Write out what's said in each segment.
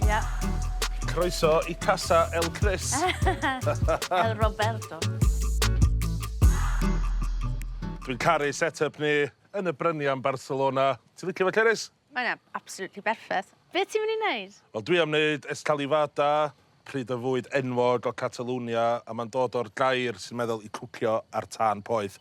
Ia. Croeso i Casa El Chris. El Roberto. Dwi'n caru set-up ni yn y brynia yn Barcelona. Ti'n licio fe, Ceris? Mae'n yna absolutely berffaith. Be ti'n mynd i wneud? Wel, dwi am wneud escalivada, pryd o fwyd enwog o Catalonia, a mae'n dod o'r gair sy'n meddwl i cwcio ar tân poeth.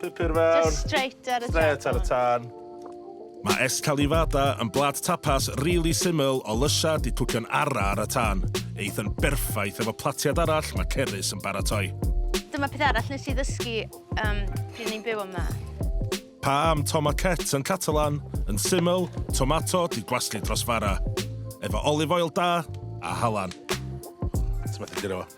Pupur fawr. Just straight ar y tân. Straight ar y tân. Mae escalivada yn blad tapas rili really syml o lysia di cwcio'n ara ar y tân. Eith yn berffaith efo platiad arall mae Cerys yn baratoi. Dyma peth arall nes i ddysgu um, pryd ni'n byw yma. Pa am tomaquet yn Catalan, yn syml, tomato di gwaslu dros fara. Efo olive oil da a halan. Ti'n methu gyda fo?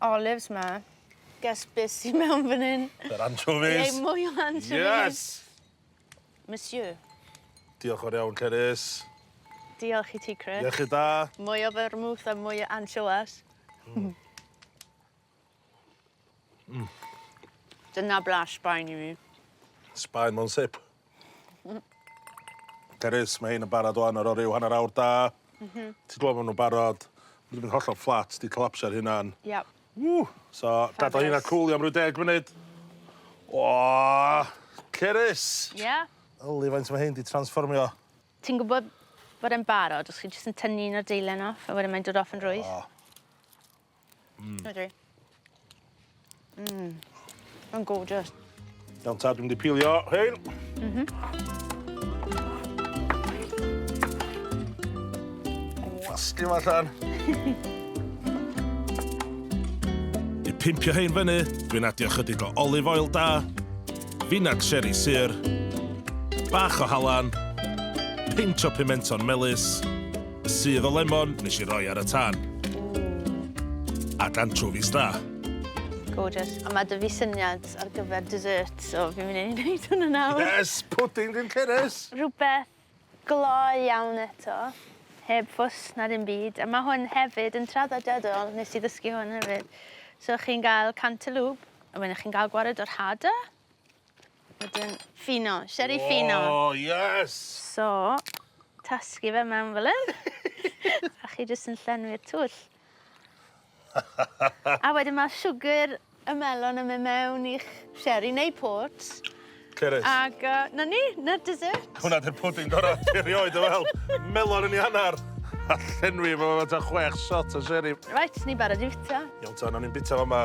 olives 'ma. Guess be' sy mewn fan 'yn? Yr anchovies. Ie mwy o anchovies. Yes! Monsieur. Diolch fawr iawn Cerys. Diolch i ti Chris. Iechyd da. Mwy o fermouth a mwy o anchoas. Hmm. Mm. Dyna blas Sbaen i fi. Sbaen mewn sip. Carys, mae hyn yn barod o'n ar o ryw hanner awr da. Mm -hmm. Ti'n gwybod bod nhw'n barod. Mae wedi hollol fflat, di collapsio ar hynna'n. Yep. Ww! So, gadael hynna cwlio am rhyw deg munud. O! Cerys! Ie? Yeah. Yli, faint mae hyn di transformio. Ti'n gwybod bod e'n barod, os chi jyst yn tynnu un o'r deilen off, a wedyn mae'n dod off yn rwydd. Oh. Mm. Ydw i. Mm. Mae'n gorgeous. Iawn ta, dwi'n mynd i pilio hyn. Mm -hmm. Wasti yma allan. I pimpio hyn fyny, dwi'n adio chydig o olive oil da, finag sherry syr, bach o halan, pinch o pimenton melus, Sudd o lemon nes i roi ar y tân. Ac anchovies da. Gorgeous. A mae dy fi syniad ar gyfer dessert, so fi'n mynd i wneud hwnna nawr. Yes! Pwdin ddim cerys! Rhywbeth gloi iawn eto, heb ffws na dim byd. A mae hwn hefyd yn traddodiadol, nes i ddysgu hwn hefyd. So chi'n gael cantalŵp, a wedyn chi'n gael gwared o'r hada. Wedyn ffino, sieri ffino. O, oh, yes! So, tasgu fe mewn fel hyn. a chi jyst yn llenwi'r twll. a wedyn mae siwgr y melon yn mynd mewn i'ch sieri neu pot. Cerys. Ac uh, na ni, na'r dessert. Hwna dy'r pwding gorau erioed o fel. Melon yn ei hanner. A llenwi fo ta chwech shot o sieri. Right, ni barod i fita. Iawn ta, na ni'n bita fo yma.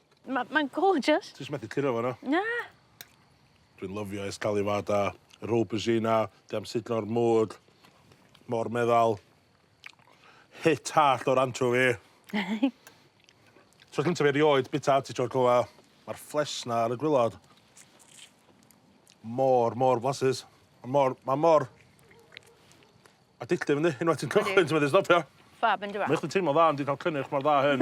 Ma' mae'n gorgeous. Ti jys methu curo fo na? Na. Dwi'n lyfio esgaliwad a yr aubergine 'na, dwi am sugno ar mwd, mor meddal. Hit hallt o'r anchovi. Tro cynta fi erioed bita artichoke fel 'a. Ma'r ffles 'na ar y gwilod mor mor flasus. Ma' mor ma' mor addictive yndi? Unwaith ti'n cychwyn ti methu stopio. Ffab yndyw e? Mae jys yn teimlo dda ond 'di ca'l cynnyrch mor dda a hyn.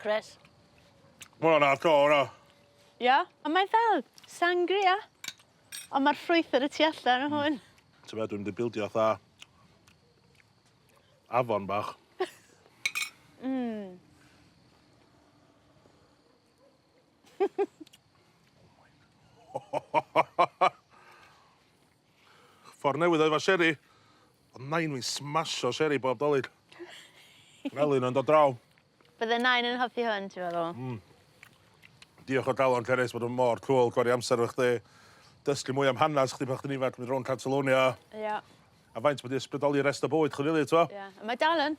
Chris. Mae hwnna'n hardcore o. Ia? Ond mae fel sangria. Ond mae'r ffrwythau y tu allan o hwn. Ti'n meddwl dwi'n mynd i bildio fatha afon bach. Mmm. Ffordd newydd o efo seri. O'dd nain fi'n smasho seri bob Dolig. Fel un yn dod draw. Bydde nain yn hoffi hwn ti feddwl? Hmm. Diolch o galon Cerys bod o mor cŵl gwario amser efo chdi. Dysgu mwy am hanas chdi pan chdi'n ifanc mynd rownd Catalonia. Ia. A faint ma' 'di ysbrydoli rest o bywyd chdi rili t'mo? Ia. A mae dal yn.